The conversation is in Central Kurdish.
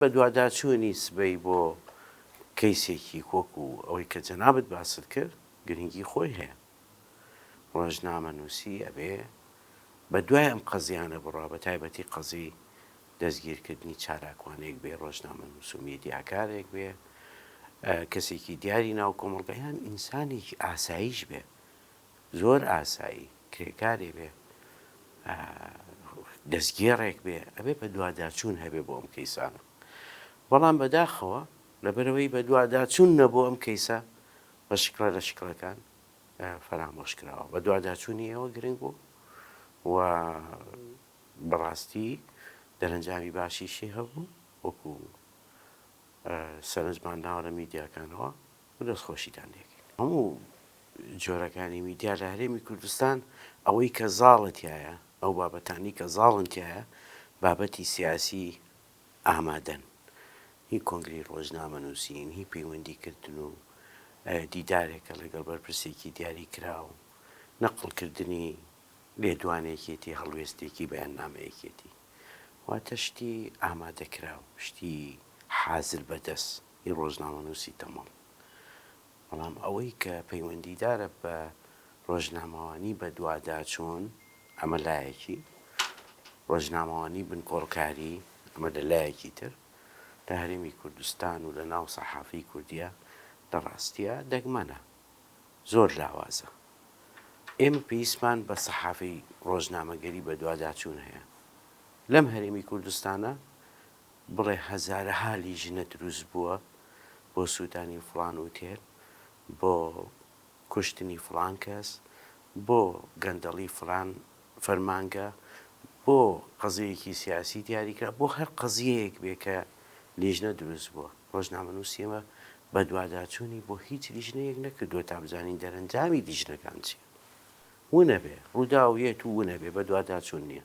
بەدواداچوونی سبەی بۆ کەیسێکی وەکو ئەوەی کە جەنابت باست کرد گرنگی خۆی هەیە. ڕۆژنامەنووسی ئەبێ بە دوای ئەم قەزیانە بڕوا بە تایبەتی قەزی دەستگیرکردنی چالاکوانێک بێ ڕۆژنامەنووس و مێدیاکارێک بێ کەسێکی دیاری ناو کۆمەڵگا یان ئینسانێکی ئاساییش بێ زۆر ئاسایی کرێکارێ بێ دەستگێڕێک بێ ئەبێ بە دواداچوون هەبێ بۆ ئەم کەیسانە بەڵام بەداخەوە لەبەرەوەی بە دواداچوون نەبوو ئەم کەیسە بە شکڵە لە شکڵەکان فەرامۆش کراوە بە دواداچوونی ئێوە گرنگ بوو و بەڕاستی دەرەنجامی باشیشی هەبوو وەکو سەرنجمان ناوە لە میدیاکانەوە دەست خۆشیتان لێکەین. هەموو جۆرەکانی میدیا لە هەرێمی کوردستان ئەوەی کە زاڵە تیایە، ئەو بابەتانەی کە زاڵن تیایە بابەتی سیاسی ئامادەن. هی کۆنگرەی ڕۆژنامەنووسین، هی پەیوەندی کردن و دیدارێکە لەگەڵ بەرپرسێکی دیاریکراو، نەقڵ کردنی لێدوانی یەکێتی، هەڵوێستێکی بەیاننامە یەکێتی. واتە شتی ئامادەکراو، شتی حازر بەدەست. ی ڕۆژنامەنووسی تەمەڵ. بەڵام ئەوەی کە پەیوەندیدارە بە ڕۆژنامەوانی بەدواداچوون، ئەمە لایەکی، ڕۆژنامەوانی بنکۆڵکاری، ئەمە لە لایەکی تر، لە هەرێمی کوردستان و لە ناو سەحافەی کوردیا، لە ڕاستیا دەگمەنە. زۆر لاوازە. ئێمە پێویستمان بە سەحافەی ڕۆژنامەگەری بەدواداچوون هەیە. لەم هەرێمی کوردستانە، بڵێ هەزارەها لیژنە دروست بووە بۆ سووتانی فڵان ئوتێل، بۆ کوشتنی فڵان کەس، بۆ گەندەڵی فڵان فەرمانگە، بۆ قەزیەیەکی سیاسی دیاری کرا، بۆ هەر قەزیەیەک بێ کە لیژنە دروست بووە. ڕۆژنامەنووسی ئێمە بەدواداچوونی بۆ هیچ لیژنەیەک نەکردووە تا بزانین دەرەنجامی لیژنەکان چییە. ونەبێ. ڕووداو یەت و ونەبێ بەدواداچوون نییە.